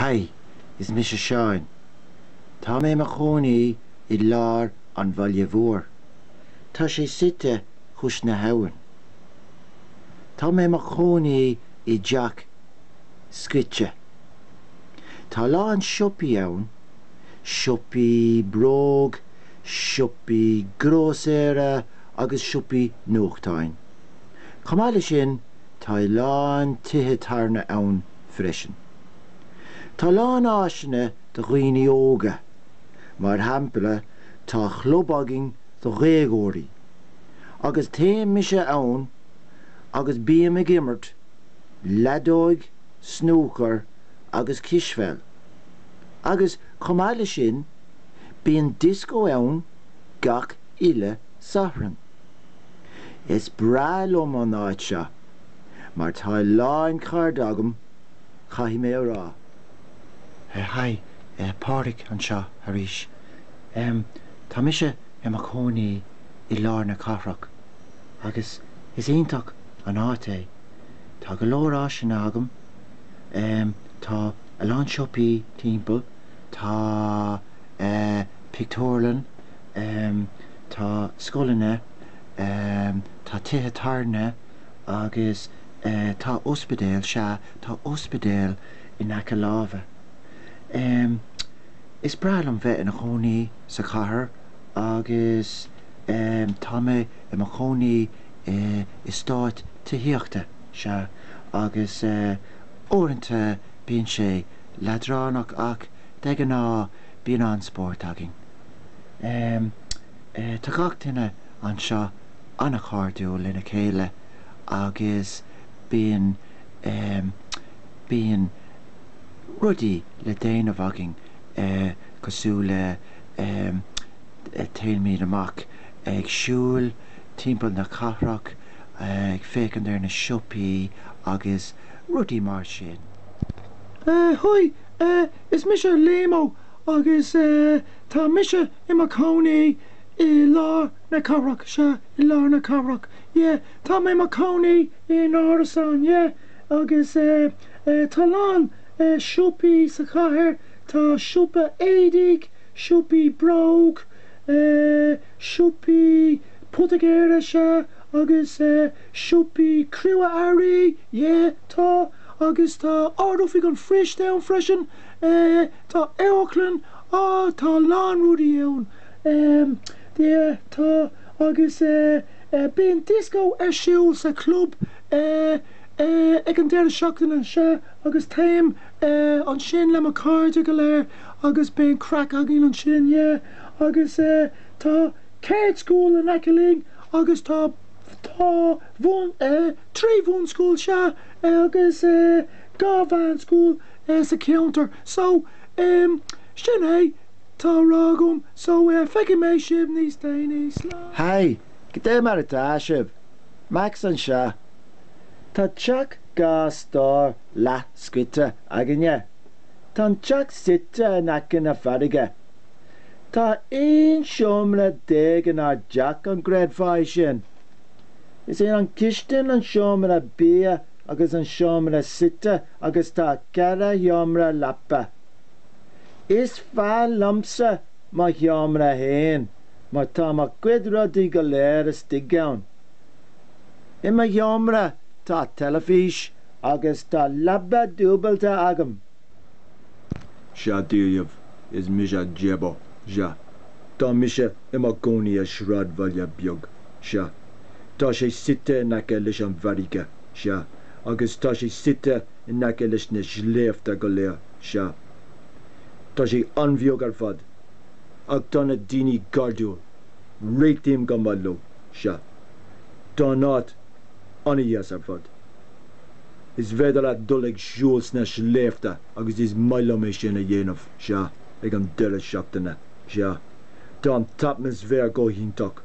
Haigh, is mise Seán. Tá mé i mo chónaí i lár an bhaile mhóir. Tá sé suite chois na habhann. Tá mé i mo chónaí i dteach scoite. Tá a lán siopaí ann, siopaí bróg, siopaí grósaera agus siopaí nuachtáin. Chomh maith le sin, Tá a lán tithe tábhairne ann freisin. Tá a lán áiseanna do dhaoine óga. Mar shampla, tá club againn do dhéagóirí, agus téimse ann agus bím ag imirt leadóige, snúcar agus cispheil. Agus, chomh maith le sin, bíonn dioscó ann gach uile Satharn. Is breá liom an áit seo mar tá a lán cairde agam, caithfidh mé a rá. Haigh, Pádraic anseo arís. Tá mise i mo chónaí i lár na cathrach agus is iontach an áit é. Tá go leor áiseanna agam, tá a lán siopaí timpeall, tá pictiúrlann, Tá scoileanna, tá tithe tábhairne agus tá ospidéal, sea, tá ospidéal in aice láimhe. Is breá liom bheith ina chónaí sa chathair agus tá mé i mo chónaí in eastát tithíochta, sea, agus uaireanta bíonn sé leadránach ach de ghnáth bíonn an-spórt againn. Tá gach duine anseo an-chairdiúil lena chéile agus bíonn bíonn rudaí le déanamh againn cosúil le téimid amach ag siúil timpeall na cathrach, ag féachaint ar na siopaí agus rudaí mar sin. Haigh, is mise Liamo. Agus tá mise i mo chónaí i lár na cathrach, sea, i lár na cathrach, yeah, tá mé i mo chónaí in árasán, yeah, agus tá a lán siopaí sa chathair, tá siopa éadaigh, siopaí bróg, siopaí poitigéara, sea, agus siopaí crua-earraí, yeah, tá, agus tá Ard-Oifig an Phoist ann freisin, Eh, tá amharclann, ah, tá a lán rudaí ann, em, yeah, tá, agus eh, eh, bíonn dioscó ar siúl sa chlub, eh, eh, ag an deireadh seachtaine, sea, agus téim, eh, ansin le mo chairde go léir agus bíonn craic againn ansin, yeah, agus eh, tá ceardscoil in aice linn agus tá, tá bhun, eh, trí bhunscoil, sea, eh, agus eh, dhá mheánscoil. eh, sa cheantar so, em, sin é, atá le rá agam so, eh, feicfidh mé sibh níos déanaí, slán. Haigh, goidé mar atá sibh? Max anseo. Tá teach dhá stór leathscoite againne. Tá an teach suite in aice na farraige. Tá aon seomra dhéag inár dteach, an gcreidfeá é sin? Is é an chistin an seomra bia agus an seomra suite agus tá ceithre sheomra leapa. Is fearr liomsa mo sheomra féin mar tá mo chuid rudaí go léir istigh ann. I mo sheomra tá teilifís agus tá leaba dúbailte agam. Sea daoibh, is mise Jebo, sea, tá mise i mo chónaí i sráidbhaile beag, sea, Tá sé suite in aice leis an bhfarraige, sea, agus tá sé suite in aice leis na sléibhte go léir, sea. Tá sé an-bheag ar fad, ach tá na daoine cairdiúil, réitím go maith leo, sea. Tá an áit an-deas ar fad. Is féidir leat dul ag siúl sna sléibhte agus is maith liom é sin a dhéanamh, sea, ag an deireadh seachtaine, sea. Tá an t-atmaisféar go hiontach.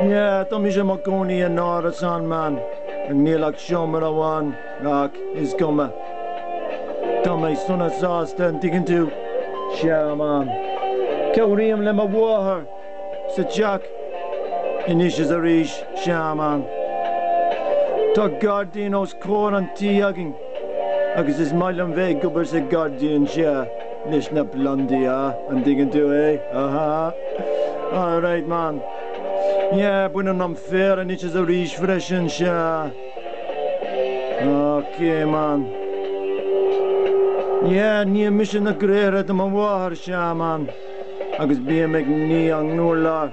Yeah, tá mise i mo chónaí in árasán, man, ach níl ach seomra amháin, ach is cuma. Tá mé sona sásta, an dtuigeann tú? Sea, man. Cabhraím le mo mháthair sa teach anois is arís, sea, man. Tá gairdín os comhair an tí againn. agus is maith liom bheith ag obair sa ghairdín seo leis na plandaí, a, an dtuigeann tú é? Aha! All right, man. Yeah, bainim an féar anois is arís freisin, sea. Océ, man. Yeah, ním mise na gréithre do mo mháthair, sea, man. agus bím ag ní an urláir.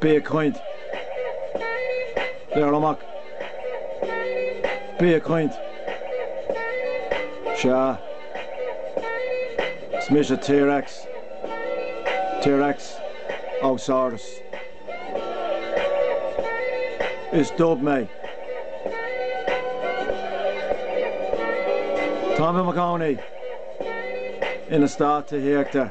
Bí ag caint. Labhair amach. Bí ag caint. Sea. Is mise T-Rex. T-Rex Auxaurus. Is dubh mé. Tá mé i mo chónaí in eastát tithíochta.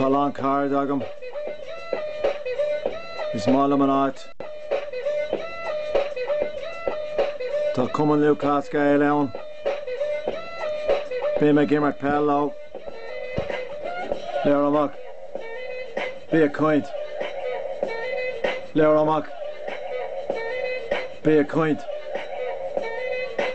Tá a lán cairde agam. Is maith liom an áit. Tá Cumann Lúthchleas Gael ann. Bím ag imirt peil leo. Labhair amach. Bí ag caint. Labhair amach. Bí ag caint.